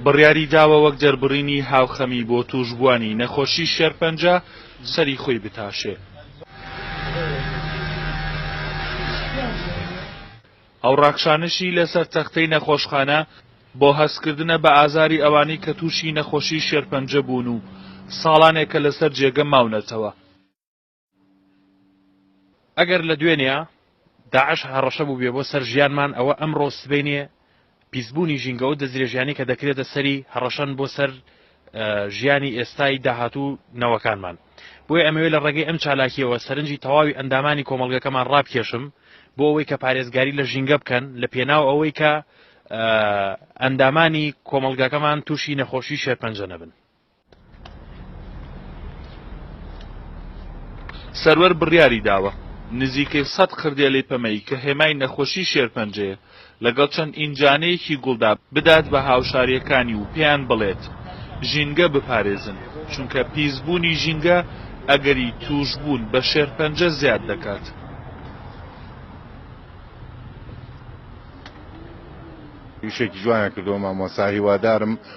بڕیاریداوە وەک دەربڕینی هاوخەمی بۆ تووشبووانی نەخۆشی شێرپەنجە سەری خۆی بتاشێ. ئەو ڕاکشانشی لەسەر تەختەی نەخۆشخانە بۆ هەستکردنە بە ئازاری ئەوانەی کە تووشی نەخۆشی شێرپەنجە بوون و ساڵانێکە لەسەر جێگە ماونەتەوە. ئەگەر لە دوێنێ داعش هەڕەشە بوو بێ بۆ سەر ژیانمان ئەوە ئەمڕۆ سبینێ پیسبوونی ژینگەەوە دەستدرێژیانی کە دەکرێتە سەری هەڕەشەن بۆ سەر ژیانی ئێستای داهاتوو نەوەکانمان بۆی ئەمەوێت لە ڕێگەی ئەم چالاکیەوە سەرنجی تەواوی ئەندامانی کۆمەلگەکەمان ڕابکێشم بۆ ئەوەی کە پارێزگاری لە ژینگە بکەن لە پێناو ئەوەی کە ئەندامانی کۆمەلگاکەمان تووشی نەخۆشی شێرپەنجە نەبن سەروەر بڕیاری داوە نزیکەی سەد قردێلەی پەمەیی کە هێمای نەخۆشی شێرپەنجەیە لەگەڵ چەند ئینجانەیەکی گوڵدا بدات بە هاوشارییەکانی و پێیان بڵێت ژینگە بپارێزن چونکە پیسبوونی ژینگە ئەگەری تووشبوون بە شێرپەنجە زیاد دەکات. یشێکی جوانە کردەوە مامۆسا هیوادارم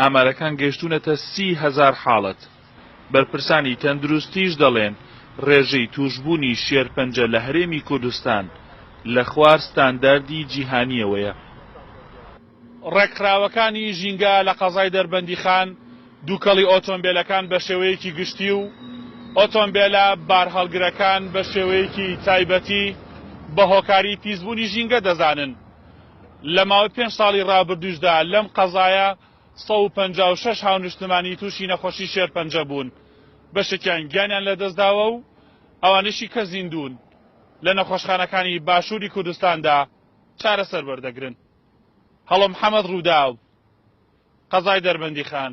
ئامارەکان گەیشتوونەتە سی هەزار حاڵەت، بەرپرسانی تەندروستیش دەڵێن، رێژەی تووشبوونی شێرپەنجە لە هەرێمی کوردستان لە خوار ستانداردی جیهانییەوەیە. رێکخراوەکانی ژینگە لە قەزای دەربەندیخان دووکەڵی ئۆتۆمبێلەکان بە شێوەیەکی گشتی و ئۆتۆمبێلە بارهەڵگرەکان بە شێوەیەکی تایبەتی بە هۆکاری پیسبوونی ژینگە دەزانن. لە ماوەی پێنج ساڵی رابردووشدا لەم قەزایە سەد و پەنجا و شەش هاونیشتمانی تووشی نەخۆشی شێرپەنجە بوون، بەشێکیان گیانیان لەدەستداوە و ئەوانەیشی کە زیندوون، لە نەخۆشخانەکانی باشووری کوردستاندا چارەسەر وەردەگرن. هەڵۆ محەمەد رووداو، قەزای دەربەندیخان.